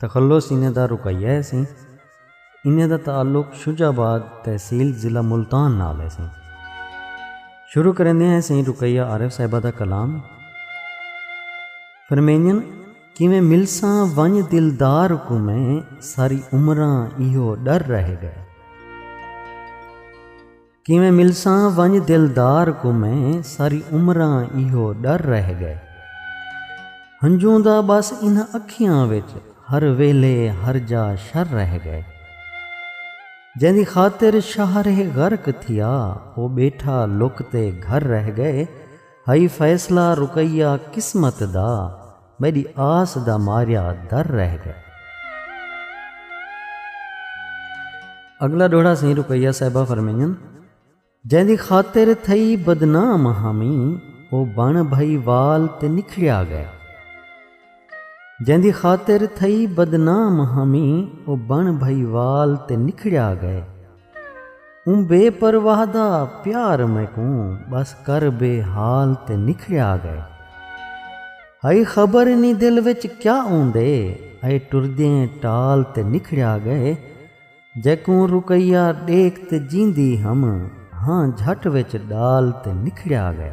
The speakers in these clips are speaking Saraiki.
تخلص انہیں دا رقیہ ہے سیں۔ انہیں دا تعلق شجاع آباد تحصیل ضلع ملتان نال ہے سیں۔ شروع کرندے ہیں سیں رقیہ عارف صاحبہ دا کلام۔ فرمینجن کیویں ملساں ونج دلدار کوں میں ساری عمراں ایہو ڈر رہ گئے۔ کیویں ملساں ونڄ دلدار کوں میں ساری عمراں ایہو ݙر رہ ڳئے ہنجوں دا ٻس انہاں اکھیاں وچ ہر ویلھے ہر جا شر رہ ڳئے جیندی خاطر شہر ہے غرق تھیا او ٻیٹھا لک تے گھر رہ ڳئے ہئی فیصلہ رقیہ قسمت دا میݙی آس دا ماریا در رہ گئے۔ اڳلا ݙوہڑا سئیں رقیہ صاحبہ فرمائیدن۔ جیندی خاطر تھئی بدنام ہامیں او بݨ بھئی وال تے نکھڑیا ڳئے۔ جیندی خاطر تھئی بدنام ہامیں او بݨ بھئی وال تے نکھڑیا ڳئے۔ اوں بے پرواہ دا پیار میکوں ٻس کر بے حال تے نکھڑیا ڳئے ہئی خبر نی دل وچ کیا اوندے اے ٹردیں ٹال تے نکھڑیا ڳئے جیکوں رقیہ ݙیکھ تے جیندی ہم ہاں جھٹ وچ ݙال تے نکھڑیا ڳئے۔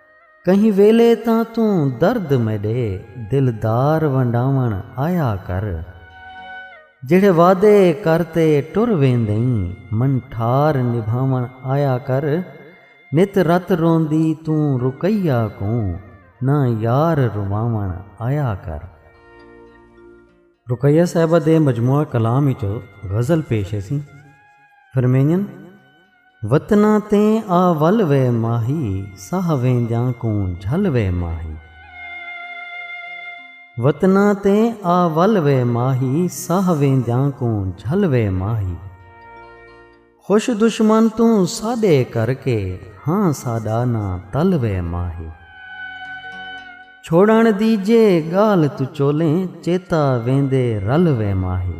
کہیں ویلے تاں توں درد میݙے دلدار ونڈاوݨ آیا کر جیڑھے وعدے کر تے ٹر ویندئیں من ٹھار نبھاوݨ آیا کر نت رت روندی توں رقیہ کوں نہ یار رواوݨ آیا کر۔ رقیہ صاحبہ دے مجموعہ کلام اچوں غزل پیش ہیسی فرمینجن۔ وطناں تے آ ول وے ماہی ساہ ویندیاں کوں جھل وے ماہی۔ وطناں تے آ ول وے ماہی ساہ ویندیاں کوں جھل وے ماہی۔ خوش دشمن توں ساݙے کر کے ہاں ساݙا نہ تل وے ماہی۔ چھوڑݨ دی جے ڳالھ توں چولیں چیتا ویندے رل وے ماہی۔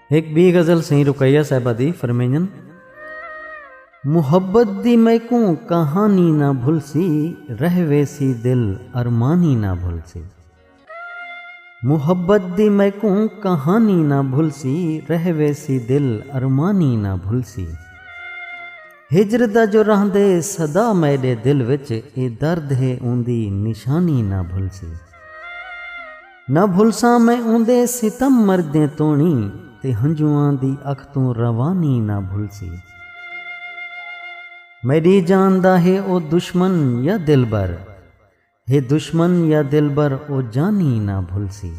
ہک بی غزل سئیں رقیہ صاحبہ دی فرمینجن محبت دی میکوں کہانی نہ بھلسی رہ ویسی دل ارمانی نہ بھلسی محبت دی میکوں کہانی نہ بھلسی رہ ویسی دل ارمانی نہ بھلسی ہجر دا جو رہندے سدا میڈے دل وچ اے درد ہے اوندی نشانی نہ بھلسی۔ نہ بھلساں میں اوندے ستم مردیں توڑی تے ہنجواں دی اکھ توں روانی نہ بھلسی۔ میڈی جان دا ہے او دشمن یا دلبر ہے دشمن یا دلبر او جانی نہ بھلسی۔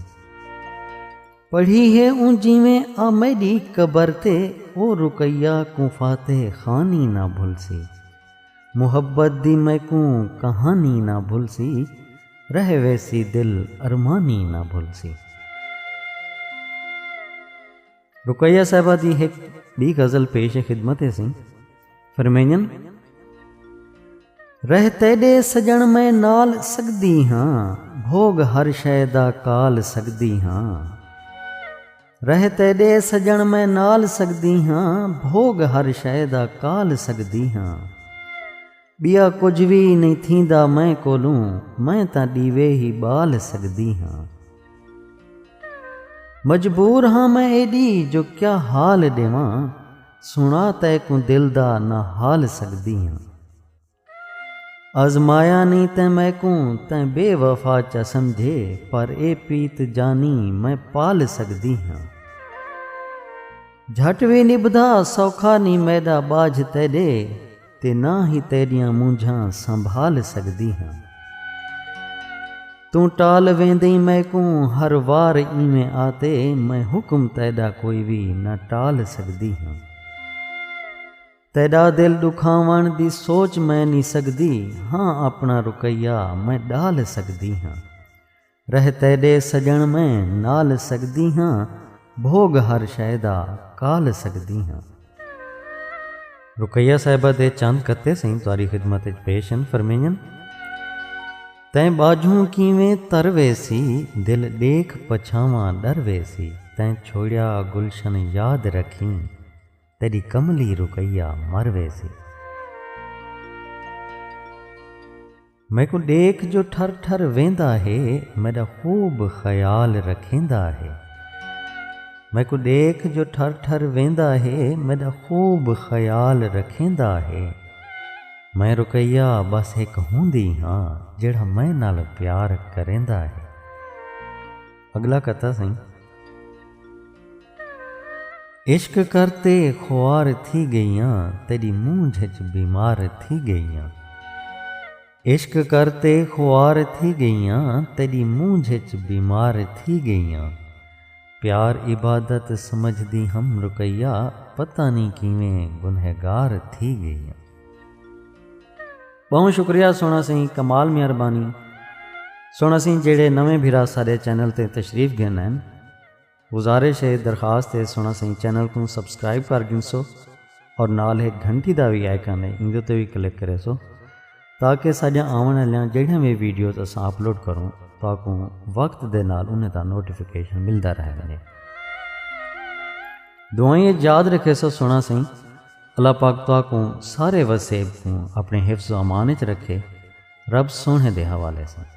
پڑھی ہے اوں جیویں آ میڈی قبر تے او رقیہ کوں فاتح خانی نہ بھلسی۔ محبت دی میکوں کہانی نہ بھلسی رہ ویسی دل ارمانی نہ بھلسی۔ رقیہ صاحبہ دی ہک بی غزل پیش خدمت ہے سیں فرمینجن۔ رہ تیڈے سجن میں نال سگدی ہاں بھوگ ہر شے دا کال سگدی ہاں۔ رہ تیݙے سڄݨ میں نال سڳدی ہاں بھوڳ ہر شئے دا کال سڳدی ہاں ٻیا کجھ وی نئیں تھیندا میں کولوں میں تاں ݙیوے ہی ٻال سڳدی ہاں مجبور ہاں میں ایݙی جو کیا حال ݙیواں سݨا تیکوں دل دا نہ حال سڳدی ہاں آزمایا نی تیں میکوں تیں بے وفا چا سمجھے پر اے پیت جانی میں پال سگدی ہاں جھٹ وی نبھدا سوکھا نی میڈا باجھ تیڈے تے نہ ہی تیڈیاں مونجھاں سنبھال سگدی ہاں توں ٹال ویندیں میکوں ہر وار ایویں آتے میں حکم تیڈا کوئی وی نہ ٹال سگدی ہاں۔ تیݙا دل ݙکھاوݨ دی سوچ میں نی سڳدی ہاں آپݨا رقیہ میں ݙال سڳدی ہاں رہ تیݙے سڄݨ میں نال سڳدی ہاں بھوڳ ہر شئے دا کال سڳدی ہاں۔ رقیہ صاحبہ دے چند قطعے سئیں تہاݙی خدمت وچ پیش ہن فرمینجن۔ تیں ٻاجھوں کیویں تر ویسی دل ݙیکھ پچھاواں ݙر ویسی تیں چھوڑیا گلشن یاد رکھیں۔ تیݙی کملی رقیہ مر ویسی۔ میکوں ݙیکھ جو ٹھر ٹھر ویندا ہے میݙا خوب خیال رکھیندا ہے۔ میکوں ݙیکھ جو ٹھر ٹھر ویندا ہے میݙا خوب خیال رکھیندا ہے۔ میں رقیہ بس ہک ہوندی ہاں جیڑھا میں نال پیار کریندا ہے۔ اڳلا قطعہ سئیں۔ عشق کر تے خوار تھی ڳئیاں تیݙی مونجھ اچ بیمار تھی ڳئیاں عشق کر تے خوار تھی ڳئیاں تیݙی مونجھ اچ بیمار تھی ڳئیاں پیار عبادت سمجھدی ہم رقیہ پتہ نی کیویں گنہگار تھی ڳئیاں۔ ٻہوں شکریہ سوہݨا سئیں کمال میاں ربانی سوہݨا سئیں جیڑھے نویں بھرا ساݙے چینل تے تشریف گھن آئن گزارش ہے درخواست ہے سنڑاں سئیں چینل کوں سبسکرائب کر گھنسو اور نال ہک گھنٹی دا وی آئیکن ہے ایندے تے وی کلک کریسو تاکہ ساڈیاں آونڑ آلیاں جیڑھیاں وی ویڈیوز اساں اپلوڈ کروں تہاکوں وقت دے نال انہیں دا نوٹیفکیشن ملدا رہ ونجے دعائیں اچ یاد رکھیسو سنڑاں سئیں اللہ پاک تہاکوں سارے وسیب کوں اپنے حفظ و امان اچ رکھے رب سوہنے دے حوالے سئیں